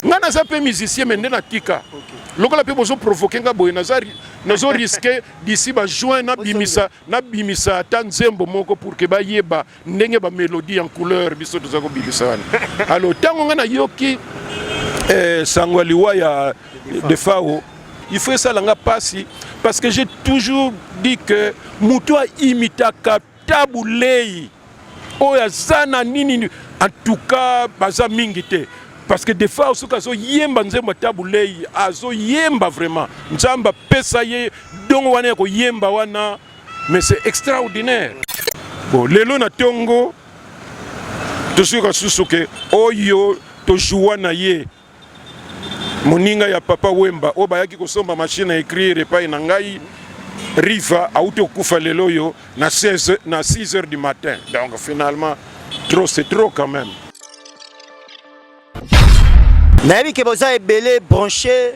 nga naza mpe musicien me nde natika lokola mpe bozo provoke nga boye nazo riske d'ici ba juin nabimisa nabimisa ata nzembo moko pour ke bayeba ndenge bamelodie ya couleur biso toza kobimisa wana alors ntango nga nayoki eh, sango ya liwa ya defao il faut esala nga mpasi parce que j'ai toujours dit que moto aimitaka Tabu Ley oyo aza na nini? En tout cas baza mingi te parce que des fois soki azoyemba nzembo ya Tabu Ley azoyemba vraiment, Nzambe apesa ye dongo wana ya koyemba wana, mais c'est extraordinaire. Bon, lelo na tongo tosuka susu ke oyo tojoua na ye moninga ya papa Wemba oyo bayaki kosomba machine ya ecrire epai na ngai Riva auti okufa lelo oyo na 16 na 6 heures du matin donc finalement trop c'est trop quand même nayebi ke boza ebele branché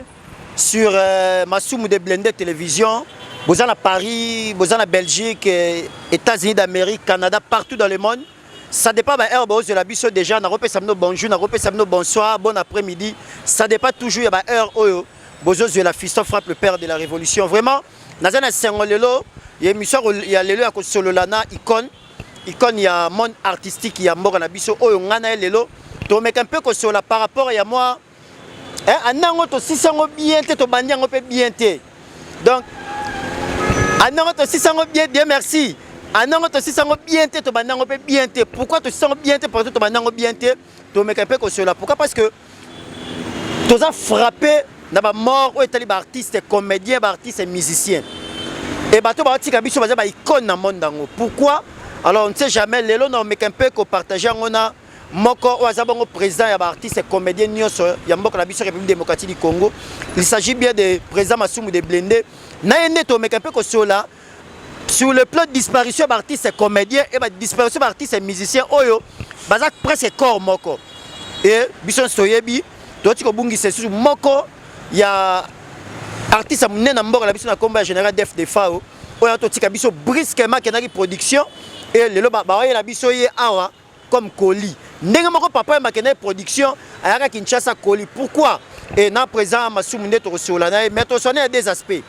sur euh, masumu de blende télévision boza na paris boza na belgique euh, états-unis d'amérique canada partout dans le monde Ça dépend ba heure bozo la biso déjà na kopesa bino bonjour na kopesa bino bonsoir bon après-midi ça dépend toujours ya ba heure oyo bozo la fiston frappe le père de la révolution vraiment naza na sengo lelo ya émission ya lelo ya kosolola na icône icône ya monde artistique ya mboka na biso oyo ngana lelo tomeka mpe kosolola par rapport ya moi eh, anda yango tosisi yango bien te tobandi yango mpe bien te donc anda yango tosisi yango bien bien merci anda yango tosisi yango bien te tobandi yango mpe bien te pourquoi tosisi yango bien te partout tobandi yango bien te tomeka mpe kosola pourquoi parce que toza frappe na bamort oyo etali baartiste comédien baartiste musicien e bato baotika biso baza baicone na monde yango pourquoi alors on ne sait jamais lelo na omeka mpe kopartage yango na moko oyo aza bongo président ya baartiste comédien nyonso ya mboka na biso république démocratique du congo il s'agit bien de président masumu de blende na ye nde tomeka mpe kosola sur le plan disparition ya baartiste comédien e badisparition ya baartiste musicien oyo baza presque corps moko e biso nyonso toyebi toti kobungisa lisusu moko ya artiste ya monene na mboka na biso na nkombo ya général def defao oyo totika biso brusquement akendaki production e lelo bawayela biso ye awa comme Koli. Ndenge moko papa yamba kende production ayaka Kinshasa Koli. Pourquoi? Et na présent Masumu nde tokosola na ye mais toswana ya deux aspects.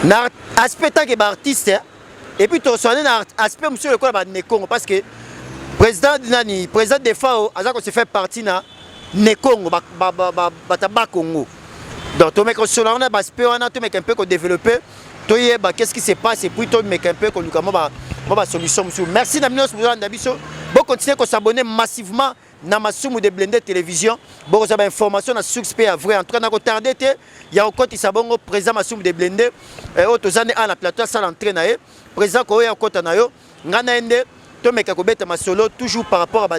Na aspect tant que ba artiste et puis toswana na aspect mosusu lokola ba Nekongo parce que président nani président Defao aza ko se faire partie na Nekongo ba ba ba, ba, ba, ba Congo. Donc tomeka kosola wana ba aspect wana tomeka un peu ko développer toyeba qu'est-ce qui se passe et puis tomeka mpe koluka mwa ba mwa ba solution mosusu merci na bino nyonso bozolanda biso bokontinue kosabone massivement na masumu de blende télévision bokozwa bainformation na suxe mpe ya vrai en tout cas nakotarde te ya kokotisa bongo président masumu de blende oyo toza nde awa na plateau asala entré na ye président koya okota na yo nga na ye nde tomeka kobeta masolo toujours par rapport à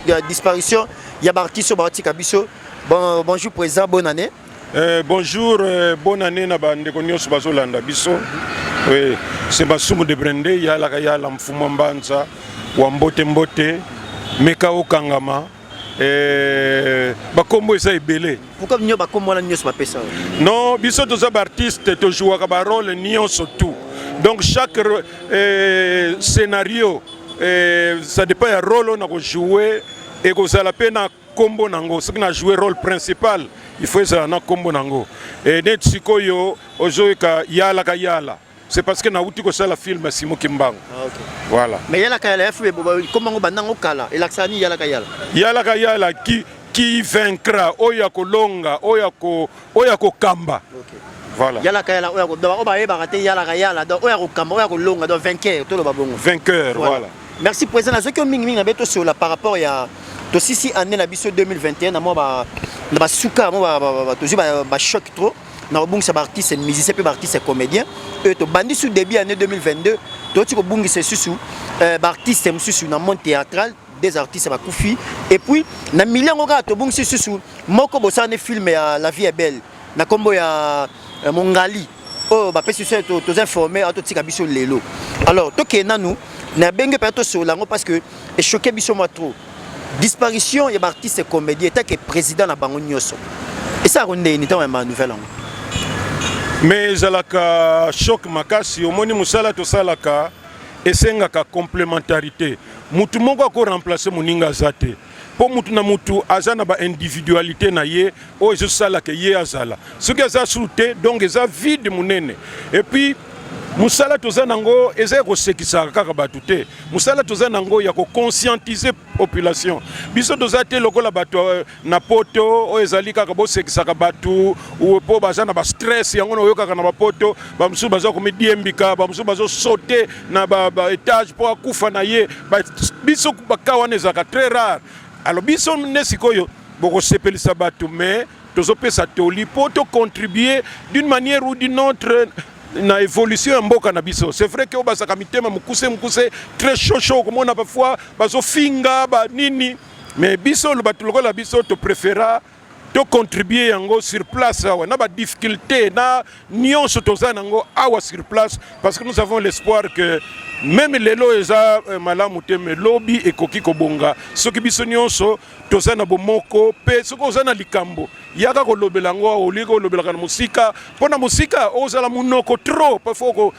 ya disparition ya baartiste oyo baotika biso bon, bonjour président bonne année euh, bonjour euh, bonne année na bandeko nyonso bazolanda biso oui, c'est masumu de brende yalaka yala mfuma mbanza wa mbote mbote meka okangama Eh, bakombo eza ebele pourquoi bino bakombo wana nyonso bapesa non biso toza baartiste tojouaka barole nyonso tout donc chaque euh, scénario euh, ça dépend ya role oyo nakojoue ekozala mpe na nkombo na yango soki na joue role principal il faut ezala na nkombo na yango e neti sikoyo ozoyoka yalaka yala C'est parce que nauti kosala film ya Simon Kimbangu. Ah, okay. Voilà. Mais yalaka yala FB koma ngo bandango kala elakisa ni yalaka yala. Yalaka yala qui qui vaincra oyo ya kolonga oyo ya ko oyo ya kokamba. Okay. Voilà. Yalaka yala oyo ya kodaba oyo bayebaka te yalaka yala donc oyo ya kokamba oyo ya kolonga donc vainqueur toloba bongo. Vainqueur voilà. voilà. Merci président nazoki mingi mingi na beto sur la par rapport ya tosisi année na biso 2021 na mwa ba na basuka yango tozwi bachoc trop na kobungisa baartiste musicien mpe baartiste comédien oyo tobandi su début année 2022 toti kobungisa esusu euh, baartiste mosusu na monde théâtral des artistes bakufi et puis na milieu yango kaka tobungisi lisusu moko bosala nde film ya la vie est belle na nkombo ya euh, mongali oyo bapesi biso toza informe awa totika biso lelo alors tokende nanu na benge mpenza tosolola yango parce que echoke biso mwa trop disparition ya baartiste comédie etake président na bango nyonso esala kondeni ntango ya banouvelle yango mais ezalaka choc makasi omoni mosala tosalaka esengaka complémentarité motu moko ako remplace moninga aza te mpo motu na motu aza na ba individualité na ye oyo ezosala ke ye azala soki aza suru te donc eza vide monene epuis mosala toza nango eza ya kosekisaka kaka bato te mosala toza nango ya koconscientise population biso toza te lokola bato euh, na poto oyo ezali kaka bosekisaka bato mpo baza na bastress yango na oyokaka na bapoto bamosusu baza komidiembika bamosusu bazosote na baetage mpo akufa na ye biso baka wana ezalaka très rare alors biso nde sikoyo bokosepelisa bato mais tozopesa toli mpo to contribuer d'une manière ou d'une autre na évolution ya mboka na biso c'est vrai que oyo bazalaka mitema mokuse mokuse très chaud chaud okomona parfois bazofinga banini mais biso bato lokola biso topréféra tocontribue yango sur place awa na badifficulté na nyonso toza na yango awa sur place parce que nous avons l'espoir que meme lelo eza euh, malamu te me lobi ekoki kobonga soki biso nyonso toza na bomoko mpe soki oza na likambo yaka kolobela yango awa oliki olobelaka na mosika mpo na mosika ozala monoko trop parfois oko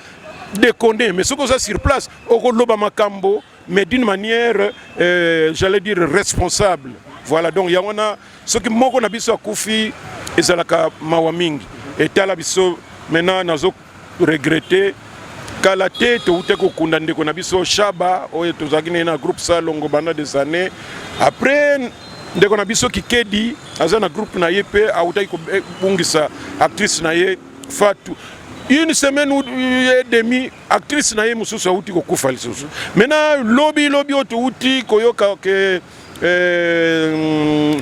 deconne mais soki oza sur place okoloba makambo mais d'une manière euh, j'allais dire responsable voilà donc yango wana soki moko na biso akufi ezalaka mawa mingi etala biso maintenant nazo regrete kala te toutaki kokunda ndeko na biso shaba oyo tozalaki naye na groupe salongo banda des années après ndeko na biso kikedi aza na groupe na ye mpe autaki kobungisa actrice na ye fatu une semaine ou euh, demi actrice na ye mosusu auti kokufa lisusu maintenant lobi lobi oyo touti koyoka ke euh,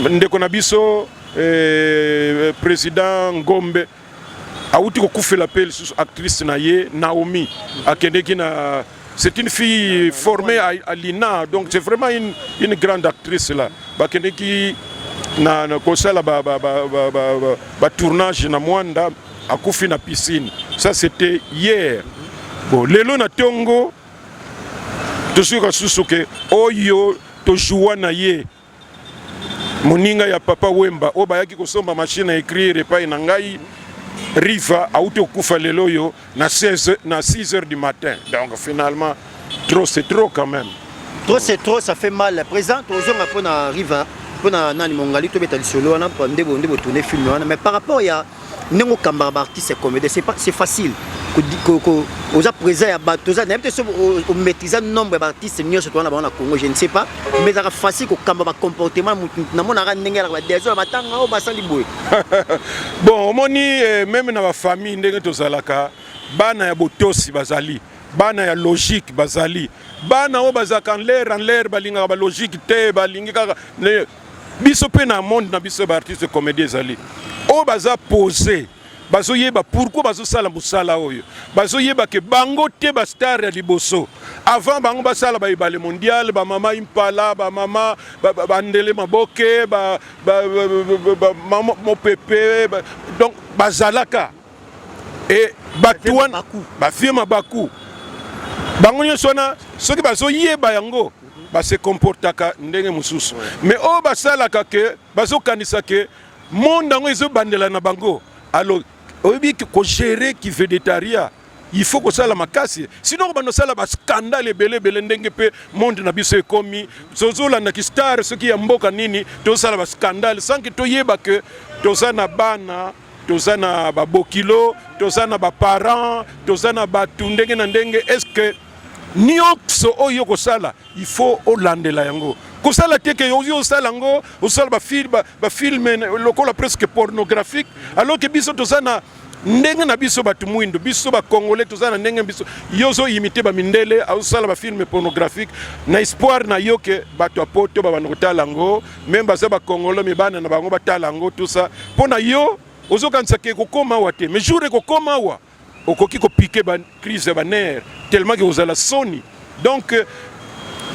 ndeko na biso euh, président ngombe awuti kokufela mpe lisusu actrice na ye Naomi akendeki na c'est une fille formée à, à l'INA donc c'est vraiment une, une grande actrice là bakendeki na, na kosala ba, ba, ba, ba, ba, ba, ba tournage na Mwanda akufi na piscine ça c'était hier bon lelo na tongo tosuka susu ke oyo tojoua na ye moninga ya papa Wemba oyo bayaki kosomba machine ya ecrire epai na ngai Riva auti okufa lelo oyo na 16 na 6 heures du matin. Donc finalement trop c'est trop quand même. Trop c'est trop ça fait mal. Présent tozonga pona Riva pona nani mongali tobeta lisolo wana nde bonde botune film wana mais par rapport ya ndenge okambaka baartiste comédien c'est facile oza présent ya bato oza nayebi te so omaîtrise nombre ya baartiste nyonso towana bango na congo je ne sais pas mais ezalaka facile kokamba bacomportement motu namonaka ndenge yalaka badesor ya matanga oyo basali boye bon omoni eh, meme na bafamille ndenge tozalaka bana ya botosi bazali bana ya logique bazali bana oyo bazalaka nlere nlere balingaka balogique te balingi kaka biso pe na monde na biso ba artiste comédie ezali oyo baza pose bazoyeba pourquoi bazosala mosala oyo bazoyeba ke bango te bastar ya liboso avant bango basala baebale mondial bamama impala bamama bandele maboke mopepe donc bazalaka e bato wana bavie mabaku bango nyonso wana soki bazoyeba yango base comportaka ndenge mosusu mais oyo basalaka ke bazokanisa ke monde yango ezobandela na bango alors oyebi kogere kivedetaria il faut kosala makasi sinon kobanda osala bascandale ebele ebele ndenge mpe monde na biso ekomi tozolanda kistare soki ya mboka nini tozosala bascandale sanke toyeba ke toza na bana toza na babokilo toza na baparent toza na bato ndenge na ndenge estce nyonso oyo okosala il faut olandela yango kosala te ke ozi osala yango osala bafilme lokola presque pornographique alors ke biso toza na ndenge na biso bato mwindo biso bakongole toza na ndenge biso yo ozoyimite bamindele azosala bafilme pornographique na espoir na yo ke bato ya poto babanda kotala yango meme baza ba congolais me bana na bango batala yango tout ça mpo na yo ozokanisa ke ekokoma awa te mais jour ekokoma awa okoki kopike ba crise ya banere tellement ke kozala soni donc euh,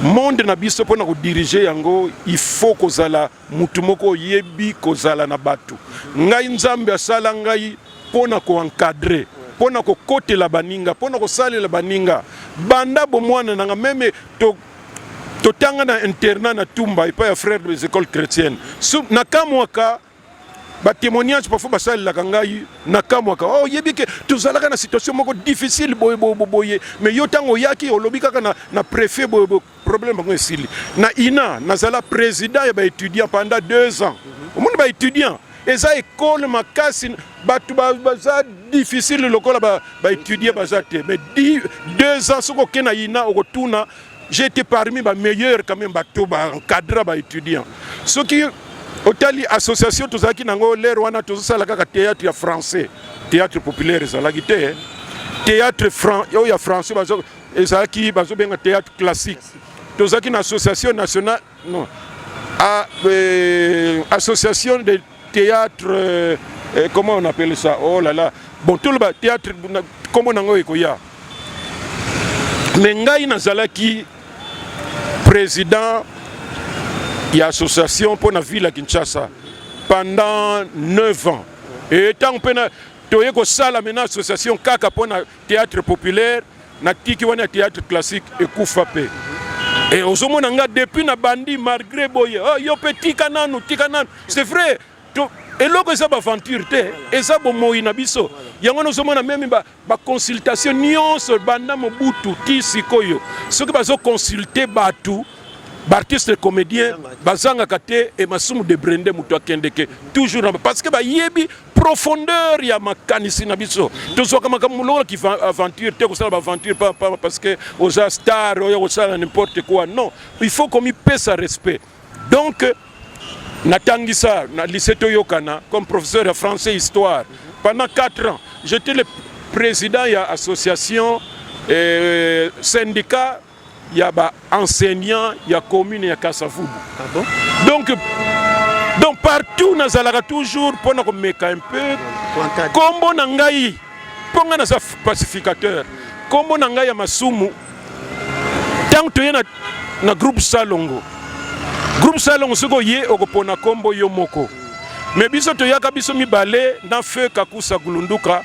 monde na biso mpo na kodirige yango il faut kozala motu moko oyebi kozala na bato ngai nzambe asala ngai mpo na koencadre mpo na kokotela baninga mpo na kosalela baninga banda bomwana nanga meme totanga na internat na tumba epai ya frère des écoles chrétiennes so, nakamwaka batémoignage parfois basalelaka ngai nakamwaka oh, oyebi oh, ke tozalaka na situation moko difficile boye boye boye mais yo ntango oyaki olobi kaka na, na préfet boye boye problème yango esili na ina nazala président ya baétudiant pendant deux ans omoni baétudiant eza ekole makasi bato baza difficile lokola baétudie ba baza te mais deux ans soki oke na ina okotuna j'ai été parmi bameilleur quand même bato baencadra baétudiant soki otali association tozalaki nango lere wana tozosala kaka théâtre ya français théâtre populaire ezalaki te théâtre oyo ya français ezalaki bazobenga théâtre classique tozalaki na association nationale Non. Ah, euh, association de théâtre, euh, euh, comment on appelle ça Oh là là. Bon, tout le théâtre, comment on a koya. Mais ngai nazalaki président ya association mpo na ville ya kinshasa pendant 9 ans e ntango mpe toye kosala mena association kaka mpo na Theatre populaire na kiki wana ya theatre classique ekufa pe. Et ozomona nga depuis na bandi malgré boye oh, yo pe tika nanu tika nanu c'est vrai to, eloko eza baventure te eza bomoi na biso yango wana ozomona meme baconsultation ba nyonso banda mobutu ti sikoyo soki bazoconsulte bato baartiste comédien bazangaka te emasumu de brende moto akendeke toujours na parce que bayebi profondeur ya makanisi na biso tozwaka makambo lokola ki aventure te kosala ba aventure pa, pa, parce que oza star oyo kosala n'importe quoi non il faut komipesa respect donc natangisa na lycée toyokana comme professeur ya français histoire pendant 4 ans j'étais le président ya association euh, syndicat ya ba enseignants ya commune ya Kasavubu. Ah bon? Donc donc partout nazalaka toujours mpo na komeka un peu kombo na ngai mpo ngai naza pacificateur kombo na ngai ya masumu ntango toye na, na groupe salongo groupe salongo soki oye okopona kombo yo moko me biso toyaka biso mibale na feu kakusa gulunduka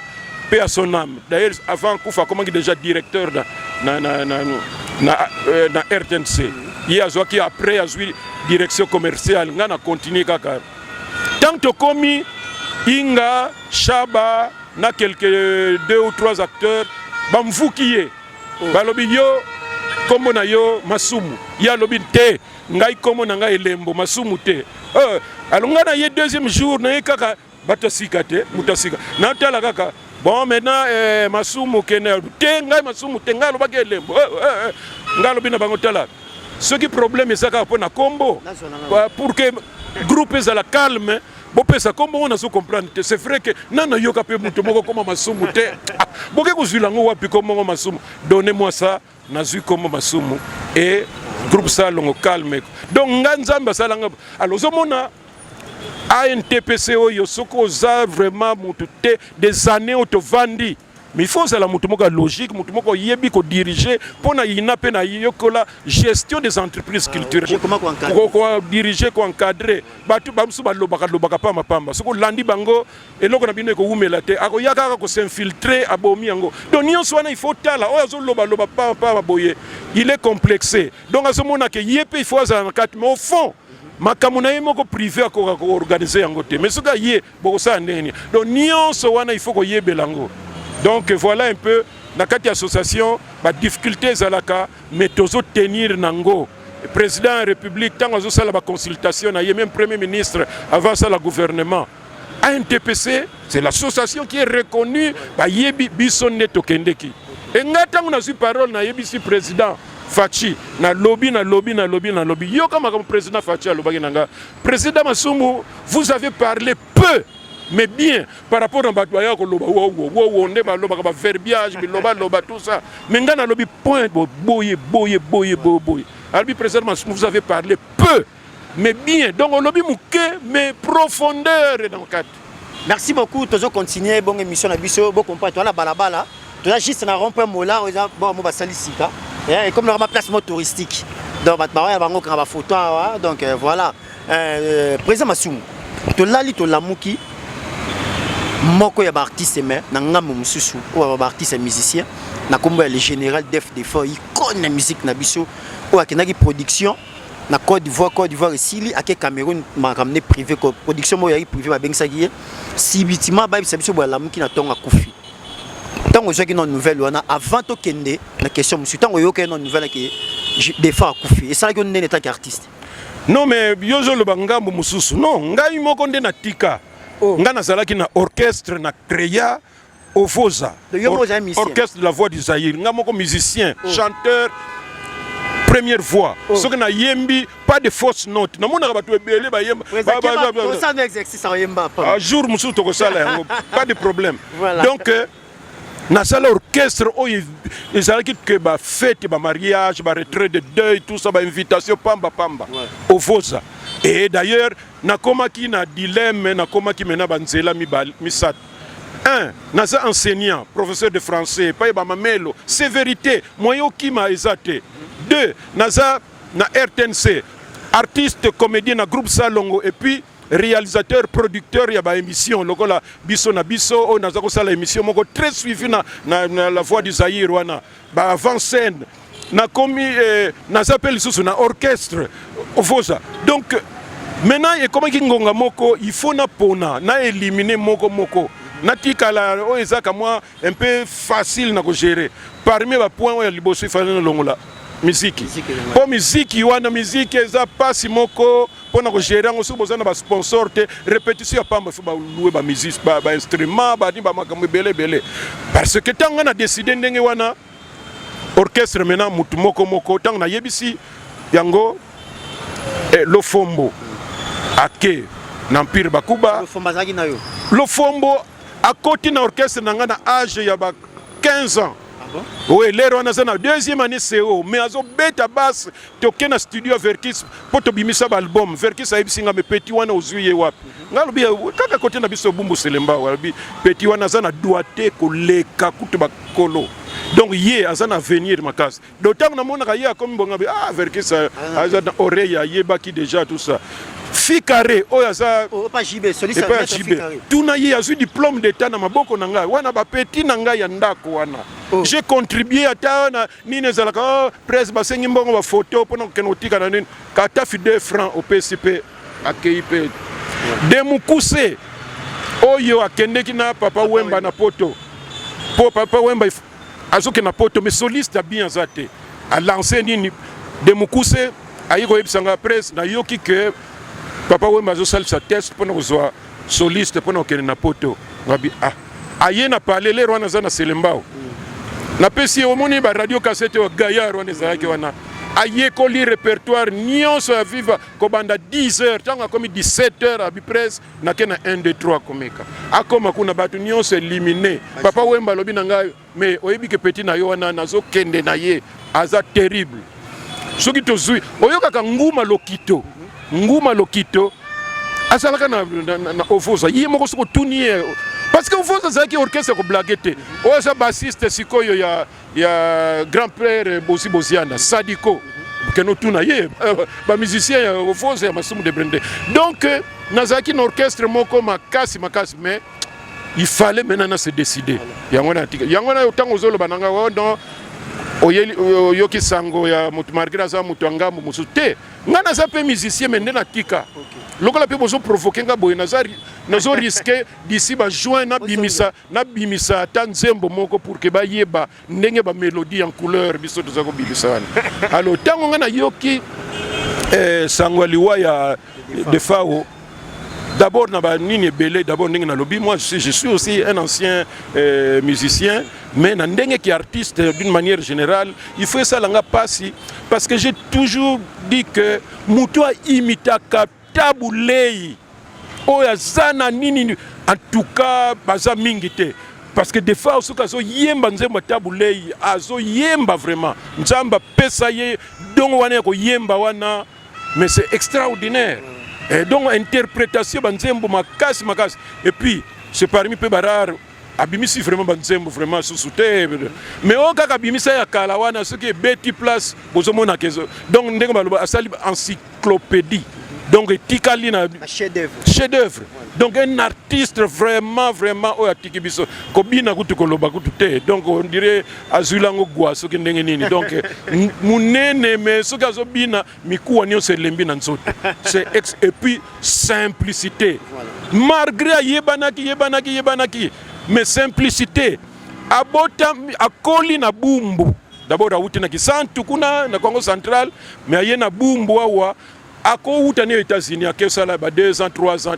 Paix à son âme. D'ailleurs, avant Koufa, comment il déjà directeur na, na, na, na, na, euh, na RTNC. Ye azwaki après azwi direction commerciale nga na continue kaka. Tant tokomi Inga, Shaba na quelques deux ou trois acteurs bamvuki ye. Oh. Balobi yo kombo na yo masumu. Ye alobi te ngai kombo na ngai elembo masumu te. Euh, alonga na ye deuxième jour na ye kaka bato asika te moto asika natala kaka bon maintenant eh, masumu kende te ngai masumu te ngai alobaki elembo eh, eh, eh. ngai alobi na bango tala soki problème eza kaka mpo na nkombo pour que groupe ezala calme bopesa nkombo ngo nazo comprendre te c'est vrai que nana yoka mpe moto moko koma masumu te ah, boke kozwila yango wapi nkombo ngo masumu donne moi ça nazwi kombo masumu e groupe salongo calme donc nga nzambe asala nga alors ozomona antpc oyo soki oza vraiment motu te des années oyo tovandi mais il faut ozala motu moko ya logique motu moko oyebi kodirige mpo na yina mpe nayekola gestion des entreprises culturelles kodirige koencadre bato bamosusu balobaka lobaka pamba pamba soki olandi bango eloko na bino ekowumela te akoya kaka kosinfiltre abomi yango donc nyonso wana ifo tala oyo azolobaloba papa boye il est complexe donc azomona ke ye mpe ifo azala na kati mais au fond makambo na ye moko prive akoka koorganize yango te mais soki aye bokosala ndenge nini donc nyonso wana ifo koyebela yango donc voilà un peu na kati ya association badifficulté ezalaka mais tozotenir na ngo président ya république ntango azosala baconsultation na ye meme premier ministre avant asala gouvernement ANTPC c'est l'association qui est reconnue bayebi biso nde tokendeki e ngai ntango nazwi parole nayebisi président faci nalobi nalobi nalobi nalobi yoka makambo président faci alobaki na ngai président masumbu vous avez parlé peu mais bien par rapport na bato baya koloba wowo wowo nde balobaka baverbiage bilobaloba tout ça mais ngai nalobi point boye boye boye boye boye alobi président masumbu vous avez parlé peu Mais bien, donc olobi muke mais profondeur dans le cadre. Merci beaucoup, tozo continuer bonne émission na biso, bo comprendre toi la balabala. Tu as juste un rond-point mola, on a bon ba salisika. Et comme normalement place mot touristique. Donc ba ba bango ka ba photo hein. donc euh, voilà. Euh, président Masumu. To lali to lamuki moko ya baartiste me na ngambo mosusu oyo ya baartiste musicien na nkombo ya le général def defort icone ya musique na biso oyo akendaki production na Côte d'Ivoire Côte d'Ivoire esili ake Cameroun makambo ne privé ko production moko yaki privé babengisaki ye sibitima abayebisa biso boye alamuki na ntongo akufi ntango ozwaki na nouvelle wana avant tokende na question mosusu ntango oyokaki na nouvelle ake défunt akufi esalaki yo nini en tant qu'artiste non mais yo ozoloba ngambo mosusu non ngai moko nde natika oh. ngai nazalaki na orchestre na créa Ovoza, or, orchestre de la voix du Zaïre, nga moko musicien, oh. chanteur, première voix oh. soki nayembi pas de fausse note namonaka bato ebele bayemba ah, jour mosusu tokosala yango pas de problème voilà. donc euh, nasala orchestre oyo oh, ezalaki ke bafete bamariage baretrait de deuil tout ça bainvitation pamba pamba ouais. ovoza et d'ailleurs nakomaki na dilemme nakomaki mena banzela misatu un naza enseignant professeur de français epai bamamelo se verité moye okima eza te deux naza na rtnc artiste comédien na groupe salongo epuis réalisateur producteur ya baémission lokola biso na biso oyo naza kosala émission moko très suivi na, na, na la voix du zaïre wana ba avant scène nakomi eh, naza mpe lisusu na orchestre ofosa donc maintenant ekomaki ngonga moko il faut napona na éliminer moko moko natikala oyo ezaka mwa un peu facile na kogere parmi bapoint oyo ya liboso ifale nalongola miziki mpo miziki wana miziki eza mpasi moko mpo na kogere yango soki boza na basponsor te repetition ya pamba fo baloue bamusic bainstrument bani bamakambo ebele ebele parce que ntango ngai na deside ndenge wana orchestre mena motu moko moko ntango nayebisi yango eh, lofombo ake na empire bakuba lofombo akoti na orchestre na ngai na age ya ba 15 ans ah bon? oyo elere wana aza na deuxième année co mais azobeta base toke na studio ya verkis mpo tobimisa baalbum verkis ayebisi nga me peti wana ozwi ye wapi nga alobi kaka kote na biso obumbu selemba alobi peti wana aza na dwa te koleka kutu bakolo donc ye aza na avenir makasi do ntango namonaka ye akomi bonga bi ah verkis ah. aza na oreille ayebaki déjà tout ça fikare oyo aza oh, epai ya jibe tuna ye azwi diplôme d'état na maboko na ngai wana bapeti na ngai ya ndako wana oh. j'ai contribué ata na nini ezalaka oh, presse basengi mbongo ba photo pona kokende kotika na nini katafi 2 francs opesi pe akei pe de mukuse oyo akendeki na papa wemba na poto po papa wemba azokende na poto mais soliste bien aza te alance nini de mukuse ayi koyebisa nga presse nayoki ke papa wemba azosalisa test mpona kozwa soliste pona okende na poto ngabi ah aye na palais lero wana aza na selembao napesi ye omoni ba radio cassette oyo gaillard wana ezalaki wana ayekoli repertoire nyonso ya viva kobanda 10 heures ntango akomi 17 heures abiprese nake na 1 2 3 komeka akoma kuna bato nyonso elimine papa wemba alobi na ngai Mais oyebi ke petit na yo wana nazo kende na ye aza terrible. Soki tozui oyokaka nguma lokito. Nguma lokito azalaka na, na, na, na ovoza ye moko soki otuni ye parce que ovoza azalaki orchestre ya koblage te oyo aza bassiste sikoyo ya, ya grand père bozi boziana sadiko kende otuna ye bamusicien ya ovoza ya masumu de brende donc nazalaki na orchestre moko makasi makasi mais il fallait maintenant na se décider yango na tika yango na tango zolo bananga oh non oyeli oyoki sango ya moto malgré aza moto ya ngambo mosusu te ngai naza mpe musicien me nde na tika lokola mpe bozo provoke ngai boye naza nazo riske d'ici ba juin nabimisa nabimisa ata nzembo moko pour que bayeba ndenge ba melodie en couleur biso toza ko bibisa wana alors tango nga nayoki eh, sango liwa ya defao d'abord na ba nini ebele d'abord ndenge nalobi moi je suis aussi un ancien euh, musicien mais na ndenge ki artiste d'une manière générale il faut esala nga pasi parce que j'ai toujours dit que moto aimitaka Tabu Ley oyo aza na nini? En tout cas baza mingi te parce que des fois soki azoyemba nzembo ya Tabu Ley azoyemba vraiment, Nzambe apesa ye dongo wana ya koyemba wana, mais c'est extraordinaire. Et donc interpretation ba nzembo makasi makasi et puis c'est parmi pe ba rare abimisi vraiment banzembo vraiment susu te mais oyo kaka abimisa ya kala wana soki ebeti place bozomona kezo donc ndenge baloba asali encyclopédie donc etikali na chef d'œuvre donc un artiste vraiment vraiment oyo atiki biso kobina kutu koloba kutu te donc on dirait azwi lango gwa soki ndenge nini donc monene mais soki azobina mikuwa nyonso elembi na nzoto c'est ex et puis simplicité malgré ayebanaki yebanaki yebanaki mais simplicité abota akoli na bumbu d'abord awuti na kisantu kuna na congo central mais aye na bumbu awa akowuta ne états-unis akesala ba 2 ans 3 ans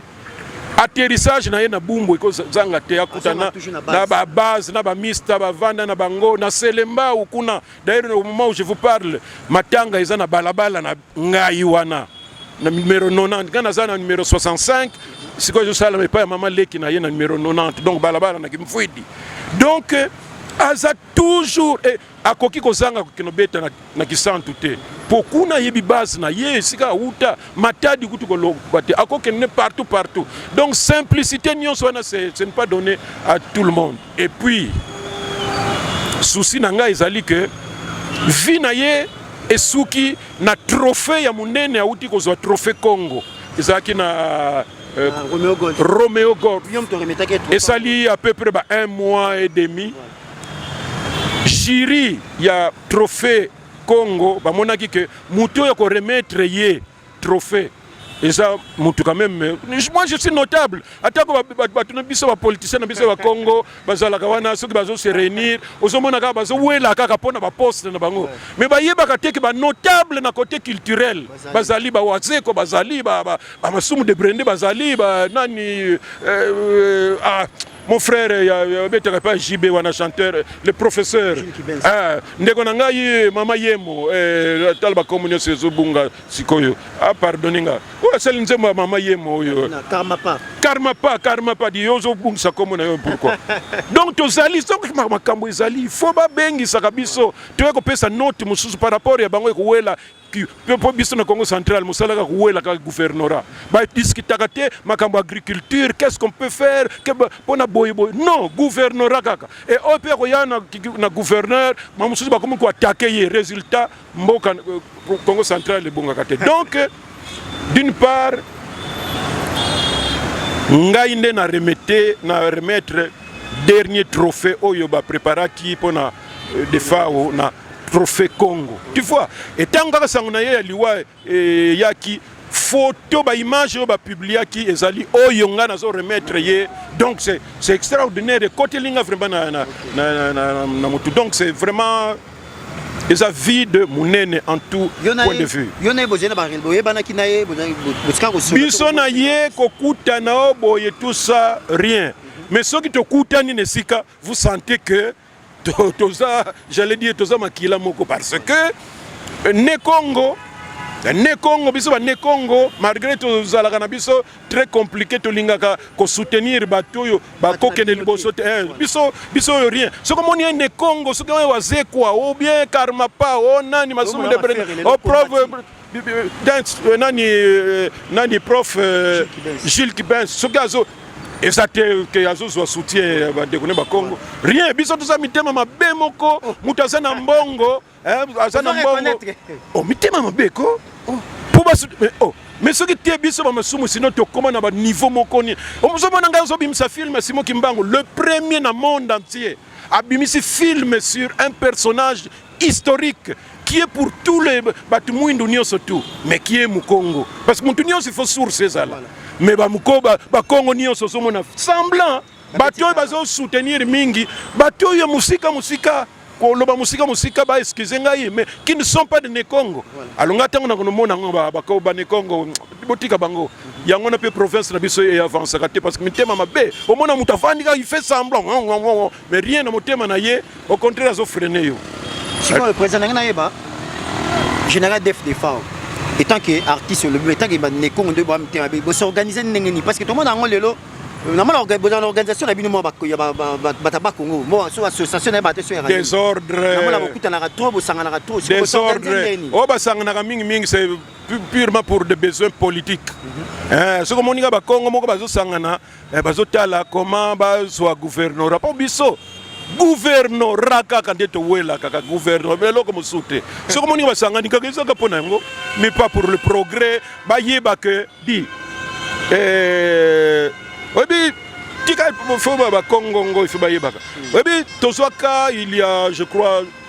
atterrissage na ye na bumbu ekozanga te akutana na babase na bamista bavanda na bango na selembau kuna D'ailleurs, au moment où je vous parle, matanga eza na balabala na ngai wana na numero 90 nga naza na numero 65 sikoyo ezosalama epai ya mama leki na ye na numero 90 donc balabala na kimfuidi donc euh, aza toujours eh, akoki kozanga kokende obeta na, na kisantu te mpo kuna ayebi base na ye esika awuta matadi kutu koloba te akokende partout partout donc simplicité nyonso wana ce n'est pas donné à tout le monde Et puis souci na ngai ezali que vie na ye esuki na trophée ya monene auti kozwa trophée Congo ezalaki na euh, ah, Romeo Gold, Romeo Gold. esali à peu près ba un mois et demi jury ya trophée Congo bamonaki que moto oyo akoremettre ye trophée eza mutu quand même moi je suis notable atako bato na biso bapoliticien na biso ya bakongo bazalaka wana soki bazo se réunir ozomona kaka bazowela kaka mpo na baposte na bango mais bayebaka te ke banotable na côté culturel bazali bawazeko bazali bamasumu de brende bazali banani euh, euh, ah, mon frère ya obetaka pa JB wana chanteur le professeur ah ndeko na ngai mama yemo eh tala ba komo nyoso ezo bunga sikoyo ah pardon nga o oh, sali nzembo ya mama yemo oyo na karma pa karma pa karma pa di yozo bungisa komo na yo pourquoi donc tozali donc makambo ezali faut ba bengi saka biso toye ko pesa note mususu par rapport ya bango ekuwela mpo biso na congo central mosala kaka kowela kaka gouvernorat badiscutaka te makambo agriculture qu'est-ce qu'on peut faire mpo na boye boye non gouvernorat kaka e oyo mpe akoya na gouverneur bamosusu bakomi koatake ye résultat mboka euh, congo central ebongaka te donc d'une part ngai nde na remete na remettre dernier trophée oyo bapreparaki mpo na euh, defao na trophée congo tu vois etango kaka sango na ye ya liwa eyaki eh, photo baimage oyo bapubliaki ezali oyo ngai nazo remettre ye donc c'est extraordinaire ekoteli nga vraiment na, na, na, na, na motu donc c'est vraiment eza vide monene en tout point de vue biso na ye kokutana o boye tout ça rien mais soki tokutani na esika vous sentez que to, toza j'allais dire toza makila moko parce que euh, ne Congo euh, ne Congo biso ba ne Congo malgré tozalaka na biso très compliqué tolingaka ko soutenir bato oyo bakokende liboso te eh, biso biso oyo rien soki omoni ye ne Congo soki oyo wazekwa ou bien karmapa o oh, nani masumu de o oh, preuve dance euh, nani euh, nani prof euh, Gilles Kibens soki azo eza te ke azozwa soutien ya bandeko ne bakongo rien biso toza mitema mabe moko oh. moto aza na mbongo aza na mbongo o oh, mitema mabe ko oh. po basu oh mais soki te biso bamasumu sino tokóma na baniveau moko nini omozomona ngai ozobimisa filme simo kimbangu le premier na monde entier abimisi filme sur un personnage historique qui est pour tous les batu mwindu nionso tout mais qui est mukongo parce que mutu nionso il faut source ezala mais ba mukoba ba kongo nionso ozomona semblant bato oyo bazo soutenir mingi bato oyo musika musika koloba musika musika ba excuse ngai mais qui ne sont pas de Nekongo alonga tango na konomona ngo ba ba ba Nekongo botika bango yango na pe province na biso e avance kate parce que mitema mabe omona mutu afandi ka il fait semblant Mais rien na motema na ye, au contraire azo freiner yo. Sikoyo président nanga nayeba général Def Defao etant que artiste olobi mais etant que ba nekongo nde ba motema be bo s'organiser ndenge nini parce que tomona yango lelo namona bozala na organisation na bino mwa bata ba congo mo so association na ye bato esoyaka desordrenamona bokutanaka trop bosanganaka trop desordre oyo basanganaka mingimingi se purement pour des besoins politiques mhm. eh, soki omonika bakongo moko bazosangana eh, bazotala comment bazwa gouvernorat mpo biso guvernora kaka nde towela kaka guvernora me eloko mosusu te soki omoni basangani kaka ezaka mpo na yango mais pas pour le progrès bayeba ke di eh, oyebi tika fo bakongongo ife bayebaka oyebi tozwaka il ya je crois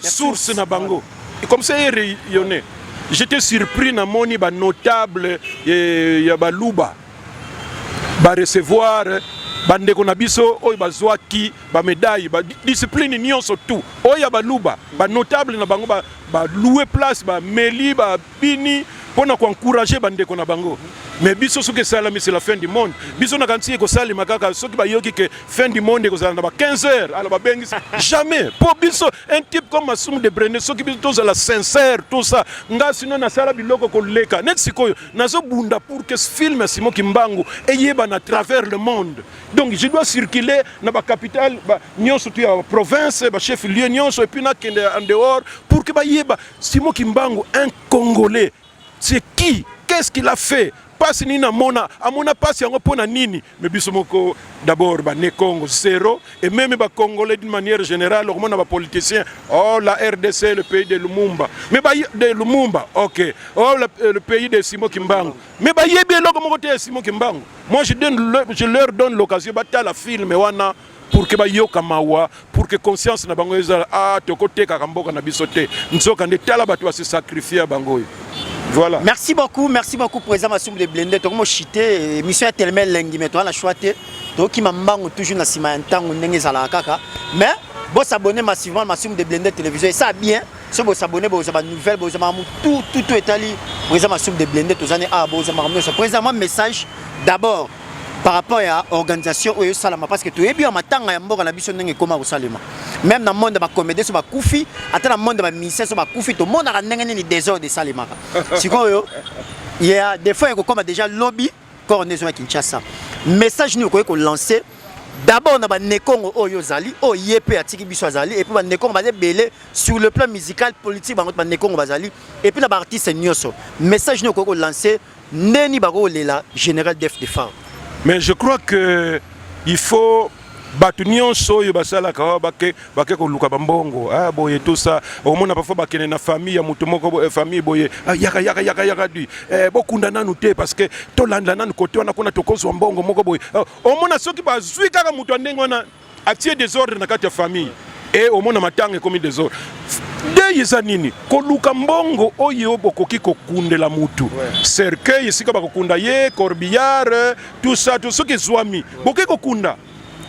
source na bango comme ça erayonne j'étais surpris na moni ba notable eh, ya baluba ba recevoir bandeko na biso oyo bazwaki bamedaille badiscipline nyonso tout oyo ya baluba banotable na bango baloue place bameli ba, ba bini mpo na koencourage bandeko na bango mais biso soki esalami c'est la fin du monde biso nakanisi ekosalema kaka soki bayoki ke fin du monde ekozala na ba 15 heures ala babengisi jamais mpo biso un type comme masumu de brene soki biso tozala sincère tout ça nga sino nasala biloko koleka neti sikoyo nazobunda pour que film ya simo kimbangu eyebana à travers le monde donc je dois circuler na bacapitale nyonso tu ya province bachef lieu nyonso epuis nakende en dehors pour que bayeba Simon Kimbangu un congolais c'est qui qu'est-ce qu'il a fait pasi nini amona amona pasi yango mpo na nini me biso moko d'abord bane congo zero et meme bacongolais d'une manière générale okomona bapoliticien o oh, la rdc le pays de lumumba me de lumumba ok o oh, euh, le pays de simo kimbangu me bayebi eloko moko te ya simo kimbangu moi je, donne, je leur donne l'occasion batala filme wana pour que bayoka mawa pour que conscience na bango ezala ah tokotekaka mboka na biso te nzoka nde tala bato basi sacrifie bango oyo voilà merci beaucoup merci beaucoup président masumbu de blende tokomo chite eh, émission ya telema elengi mais toza na choix te tokima mbango toujours na nsima ya ntango ndenge ezalaka kaka mais bosabone massivement masumbu de blende télévision esa bien so bosabone boza banouvelle boza makambo tout tout tout etali président masumbu de blende toza ne awa ah, boza makambo nyonso président mwa message d'abord par rapport ya organisation oyo esalama parce que toyebi ya matanga ya mboka na biso ndenge ekoma kosalema même na monde ya bacomédien so bakufi ata na monde ya bamusicien so bakufi tomonaka ndenge nini desordre esalemaka sikoyo ya defaut ekokoma déjà lobi corps nde ezonga kinshasa message nini okoki kolancer d'abord na banekongo oyo ozali oyo ye mpe atiki biso azali epuis banekongo baza ebele sur le plan musical politique bango banekongo bazali epuis na baartiste nyonso message nini okoki kolancer ndeni bako lela general def de femme mais je crois que il faut bato nyonso oyo basalaka oh, bake, bake koluka bambongo ah, boye tosa omona parfois bakende na famille ya moto moko eh, famille boye ah, yaka yaka yaka yaka du eh, bokunda nanu te parce que tolanda nanu kote wana kuna tokozwa mbongo moko boye ah, omona soki bazwi kaka moto ya ndenge wana atie desordre na kati ya famille e omona matanga ekomi desordre dei eza nini koluka mbongo oyo bokoki kokundela mutu cercueil esika bakokunda ye corbillard tout ça tout soki ezwami bokoki kokunda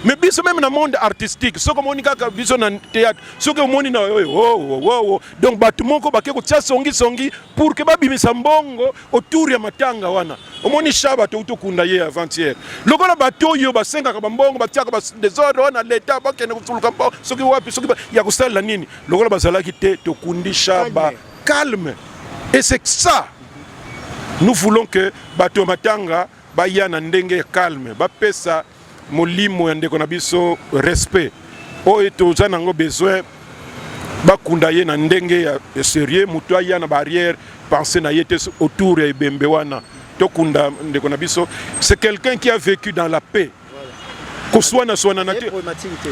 mais biso meme na monde artistique soki omoni kaka biso na théâtre soki omoni na oyo oh, oh, oh, oh. donc bato moko bake kotya songisongi pour ke babimisa mbongo autour ya matanga wana omoni shaba touti okunda ye avantiere lokola bato oyo basengaka bambongo batiaka badesordre wana leta bakende kosuluka mpo soki wapi soki ya kosalela nini lokola bazalaki te tokundi shaba calme et c'est ça nous voulons que bato ya matanga Baya na ndenge ya calme, bapesa molimo ya ndeko na biso respect oyo toza nango besoin, bakunda ye na ndenge ya serieux, moto aya na barrière pensée na ye te autour ya ebembe wana. Tokunda ndeko na biso, c'est quelqu'un qui a vécu dans la paix koswana swana na te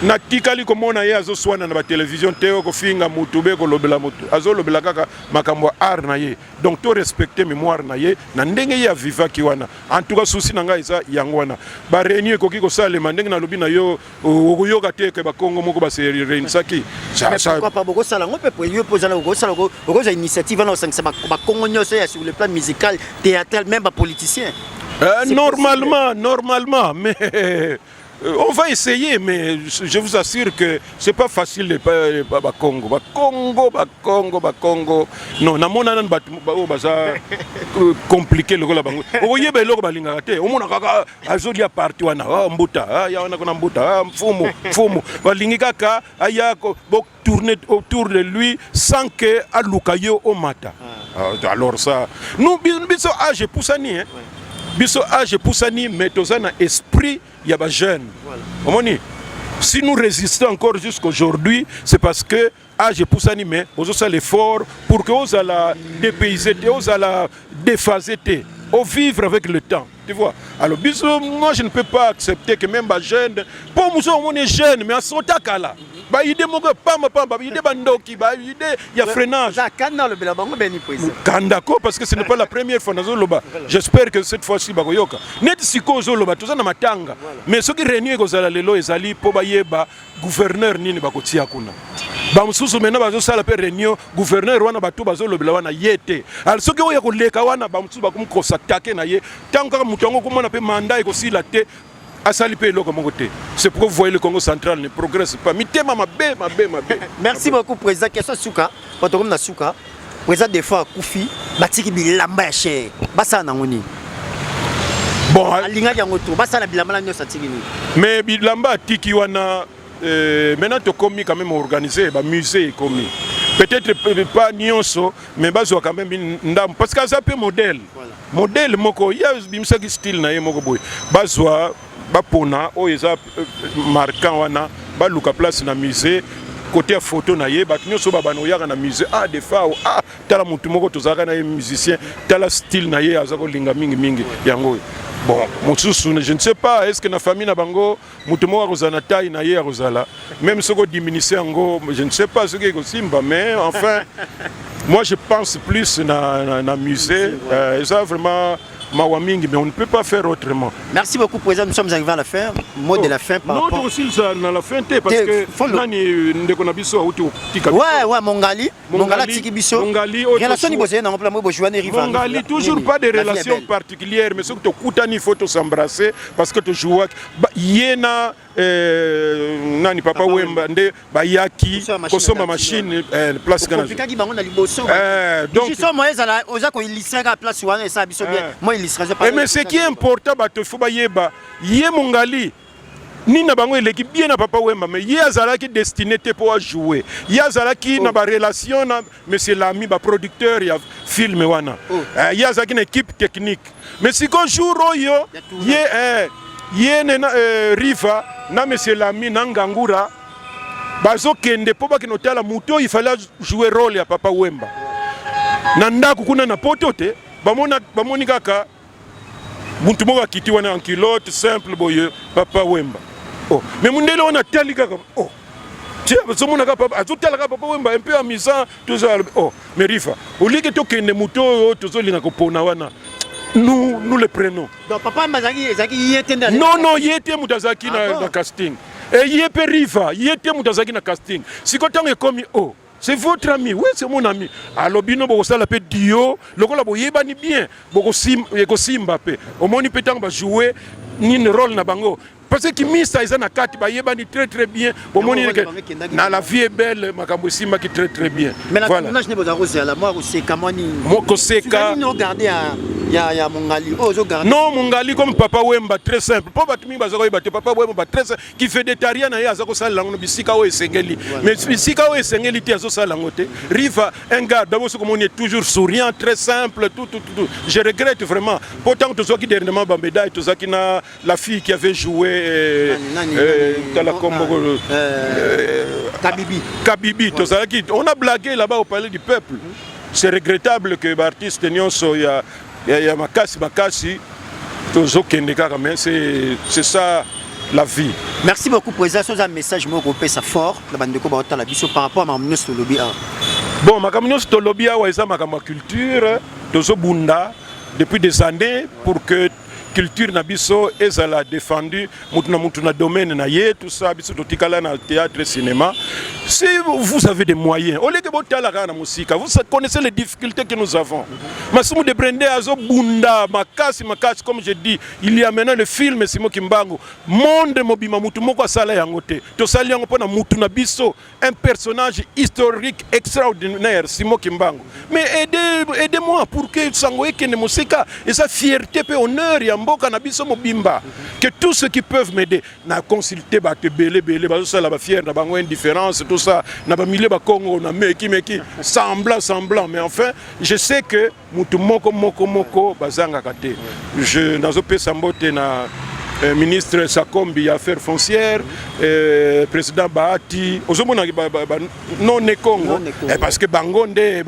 natikali komona ye azoswana na batelevision te oyo kofinga motu be kolobela motu azolobela kaka makambo ya art na ye donc to respecter mémoire na ye na ndenge ye avivaki wana en tout cas souci na ngai eza yango wana ba réunion ekoki kosalema ndenge nalobi na yo okoyoka te ke bakongo moko base réunisaki bokosala yango mpe yo mpe ozala okosala okozwa initiative wana osangisa bakongo nyonso ya sur le plan musical théâtral même bapoliticien euh, normalement normalement mais Euh, on va essayer, mais je vous assure que c'est pas facile les pas ba Congo, ba Congo, ba Congo, ba Congo. Non, na mona nan ba ba oh, baza euh, compliqué le gola bango. Vous voyez ba loko balinga raté. On mona kaka azo dia parti wana, ah mbuta, ah ya wana kona mbuta, ah mfumu, mfumu. Balingi kaka aya ko tourner autour de lui sans que aluka yo omata ah. ah, alors ça nous biso âge epusani hein biso âge epusani mais toza na esprit ya ba jeune omoni si nous résistons encore jusqu'aujourd'hui c'est parce que âge epusani mais ozosala effort pour que ozala dépaysé te ozala déphasé te ovivre avec le temps Tu vois Alors, biso, moi, je ne peux pas accepter que même ba jeune, pour nous, on est jeune, mais à son takala. Ba idée moko pamba pamba, ba idée bandoki, ba idée ya freinage. Ça kanda le bela bango beni poise. Kanda ko parce que ce n'est pas la première fois nazo loba. J'espère que cette fois-ci ba koyoka. Net siko zo loba toza na matanga. Mais soki réunion ekozala lelo ezali po ba yeba gouverneur nini bakotia kuna bamosusu mena bazosala mpe réunion gouverneur wana bato bazolobela wana ye te al soki oyo ya koleka wana bamosusu bakomikosa take na ye ntango kaka moto yango okomona mpe manda ekosila te asali mpe eloko moko te c'est pourquoi vous voyez le congo central ne progresse pas mitema mabe mabe mabe merci beaucoup président question suka bato komi na suka Preza defa akufi batiki bilamba ya chere basala nango nini? Bon, alingaki yango to basala bilamba na nyonso atiki nini? Mais bilamba atiki wana euh, maintenant tokomi quand même organiser ba musée ekomi peut-être euh, pas nyonso mais bazwa quand même ndambo parce que aza mpe modèle voilà. modèle moko ye abimisaki style na ye moko boye bazwa bapona oyo eza euh, marquant wana baluka place na musée kote ya foto na ye bato nyonso babana oyaka na musée ah defao ah tala motu moko tozalaka na ye musicien tala style na ye aza kolinga mingimingi yango oyo bon mosusu je ne sais pas est ce que na famille na bango moto moko akozala na taille na ye akozala même soki odiminise yango je ne sais pas soki ekosimba mais enfin moi je pense plus na, na, na musée euh, eza vraiment mawa mingi mais on ne peut pas faire autrement merci beaucoup président nous sommes arrivés à la fin mot oh. de la fin par non, rapport non tokosilisa na la fin te parce que fond... nani euh, ndeko na biso auti otika ouais ouais mongali mongali atiki biso mongali relation ni bozali nango mpona moi bojuane riva mongali toujours pas de relation particulière mais soki tokutani il faut tosembrasser parce que tojuaki ye na Eh, nani papa, papa Wemba nde bayaki kosomba machine eh, place kana opikaki bango na liboso eh, donc juste moi ezala oza ko illustrer ka place wana esa biso bien eh. moi illustrer pas eh, mais ce qui est important bato il faut bayeba ye mongali nini na bango eleki bien na papa Wemba mais ye azalaki destiné te mpo ajouer ye azalaki oh. na barelation na Monsieur Lami ba producteur ya film wana oh. eh, ye azalaki na équipe technique mais siko jour oyo ye eh, ye ne na eh, Riva na Monsieur Lami na Ngangura bazokende mpo bakende otala moto oyo ifale ajouer role ya papa Wemba na ndako kuna na poto te bamoni kaka muntu moko akiti wana en culotte simple boye papa wemba oh mais mundele wana tali kaka oh tiens azomona kaka papa azotala kaka papa wemba un peu amusant tozo oh mais rifa olieke tokende moto oyo tozolinga kopona wana nous nous le prenons donc papa wemba azalaki ezalaki ye te nde non non ye te moto azalaki ah na, na casting e ye mpe riva ye te moto azalaki na casting sikoyo ntango ekomi o oh. c'est votre ami oui c'est mon ami alobi no bokosala mpe dio lokola boyebani bien ekosimba mpe omoni mpe ntango bajoue nini role na bango parce que kimisa eza na kati bayebani très très bien bomoni na la vie est belle makambo esimbaki très très bien voilà. mokoseka ya, ya Mungali. Oh, Mungali comme Papa Wemba très simple. Pour batimi bazokoyeba te Papa Wemba très simple. kifedetaria na ye aza kosalela yango na bisika oyo esengeli mais bisika oyo esengeli te azosalela yango te riva un gars d'abord soki omoni toujours souriant très simple tout, tout, tout. je regrette vraiment mpo ntango tozwaki dernièrement bamédaille tozalaki na la fille qui avait joué euh, euh, tala kombo euh, kabibi kabibi tozalaki on a blagué là-bas au palais du peuple c'est regrettable que baartiste nyonso ya ya, ya makasi makasi tozokende kaka mais c'est ça la vie merci beaucoup président soza message moko kopesa fort na bandeko baotala biso par rapport à makambo nyonso tolobi awa bon makambo nyonso tolobi awa eza makambo ya culture tozobunda depuis des années pour que culture na biso ezala défendue mutu na mutu na domaine na ye tout ça biso totikala na théâtre cinéma si vous avez des moyens au lieu que botala kaka na mosika vous connaissez les difficultés que nous avons Massimo de Brende azo bunda makasi makasi comme je dis il y a maintenant le film Simo Kimbangu monde mobima mutu moko asala yango te tosali yango mpo na mutu na biso un personnage historique extraordinaire Simon Kimbangu mais aidez aidez moi pour que sango ekende mosika eza fierté pe honneur ya mboka na biso mobimba que tous ceux qui peuvent m'aider na consulter bato ebele ebele bazosala ba fière na bango indifférence tout ça na bamilieu bakongo na meki meki semblant semblant mais enfin je sais que mutu moko moko moko bazangaka te je nazopesa mbote na eh, ministre sakombi ya affaire foncière eh, président bahati ozomona ba, ba, ba, non ne congo eh, parce que bango nde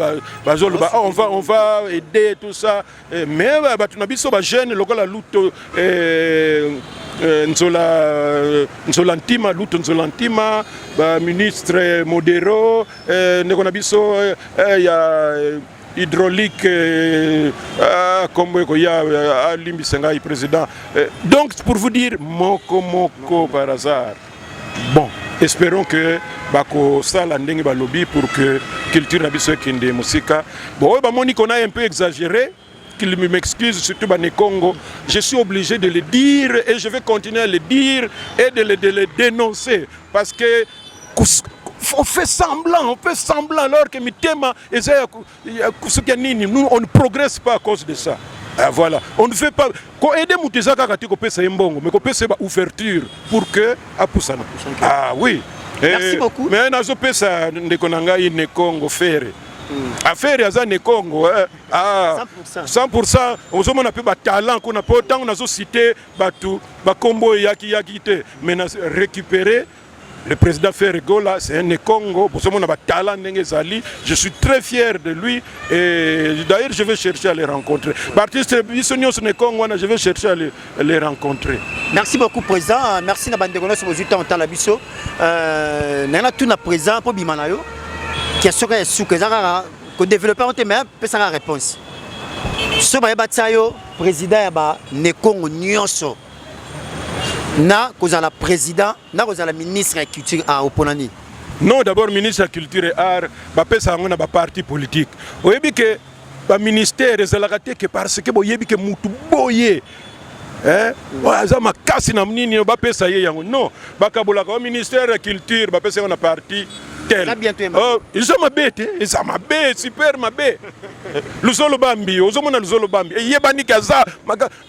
bazoloba ba, oh, on va on va aider tout ça eh, mais bato na biso bajeune lokola luto eh, eh, nzola nzola ntima luto nzola ntima baministre modero eh, ndeko na biso eh, ya hydraulique euh, ah, kombo ekoya euh, alimbisa ngai président euh, donc pour vous dire moko moko par hasard bon espérons que bakosala ndenge balobi pour que culture na biso ekende mosika bon oyo bamoni kona un peu exagéré qu'il m'excuse, surtout Bani Congo, je suis obligé de le dire et je vais continuer à le dire et de le, de le dénoncer parce que on fait semblant, on fait semblant alors que Mitema Eza ya kusukia nini? Nous on ne progresse pas à cause de ça. Ah, voilà, on ne fait pas ko aider mutu eza kaka te kopesa ye mbongo mais kopesa ye ba ouverture pour que apusana. Ah oui. Eh, Merci beaucoup. Mais nazopesa ndeko na ngai ne Congo Ferre Mm. affaire aza ne congo eh. ah, 100 ozomona mpe batalent kuna mpo ntango nazosite bato bakombo eyaki yaki te mais na récupérer Le président Ferre Gola, c'est un Congo. Je suis très fier de lui. Et d'ailleurs, je vais chercher à les rencontrer. Baptiste Bissonio, ce Congo, je vais chercher à les, à les rencontrer. Merci beaucoup, président. Merci na bande kono sobo zuta ontala biso. Euh, nana tout na présent pour bimanayo. Qui a soka ya suka zaka ko développer on te mais pesa la réponse. So ba yeba tsayo président ya ba Nekongo nyonso. na kozala président na kozala ministre ya culture ah, opona nini non d'abord ministre ya culture et art bapesa yango na baparti politique oyebi ke baministère ezalaka te ke parce ke boyebi ke mutu boye eh? aza makasi na nini bapesa ye yango non bakabolaka o ministère ya culture bapesa yango na parti tel oh, eza mabe te eza mabe super mabe luzolo bambi ozomona luzolo bambi eyebaniki aza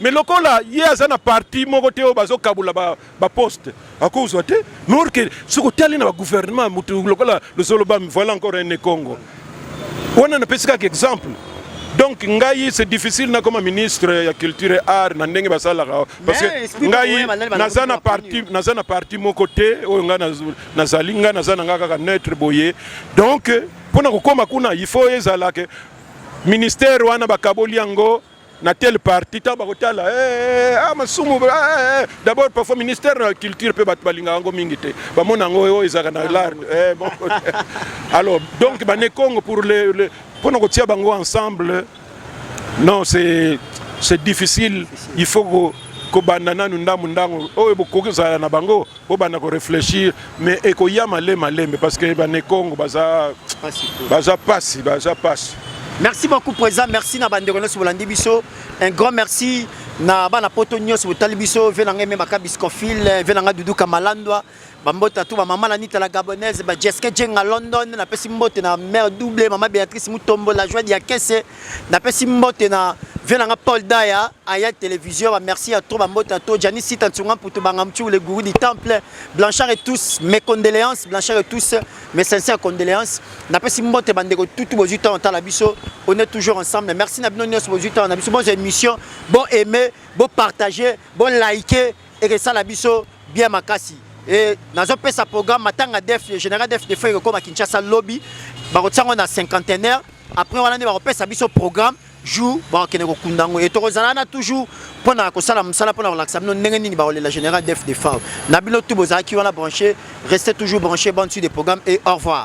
mais lokola ye aza na parti moko te oyo bazokabula baposte ba akozwa te lor ke soki otali na bagouvernement motu lokola lozolobami voilà encore un ekongo wana napesi kaka exemple donc ngai c'est difficile nakoma ministre ya culture et art na ndenge basalaka parce que ngai naza na parti naza na parti moko te oyo ngai nazali ngai naza na ngai kaka neutre boye donc mpo na kokoma kuna il faut ezala ke ministère wana bakaboli yango na telle partie ntango bakotala hey, eh, eh, ah, masumu hey, eh, d'abord parfois ministère de la culture mpe bato balingaka yango mingi te bamona yango oyo ezalaka na lar hey, bon. alors donc bane congo pour le, le mpo na kotia bango ensemble non c'est c'est difficile il faut kobanda nanu ndambo ndango oyo bokoki kozala na bango bobanda ko réfléchir mais ekoya male malembe parce que bane Congo baza baza pasi baza pasi merci beaucoup président merci na bandeko nyonso bolandi biso un grand merci na bana poto nyonso botali biso ve na ngai meme akabis confil ve na ngai duduka malandwa bambota to bamama na nita la gabonaise bajeske jenga london napesi mbote na mare double mama béatrice mutombo la joie ya kese napesi mbote na vie nanga paul daya aya télévision ba merci ya trop bambote na to jani sita nsunga mputu banga mchu le gouru du temple blanchard et tous mes condoléances blanchard et tous mes sincères condoléances napesi mbote bandeko tutu bozwi ntango tala biso on est toujours ensemble merci na bino nyonso bozwi ntango na biso bozwa émission bo aime bo partage bo like ekesala biso bien makasi e nazopesa programme matanga def général def defo ekokoma kinshasa lobi bakotiango na cinquantenaire après wana nde bakopesa biso programme jour bakokende kokunda yango e tokozala wana toujours mpo na kosala mosala mpo na kolakisa bino ndenge nini bakolela général def de fave na bino tu bozalaki wana branché reste toujours branché bonne suite de programme et au revoir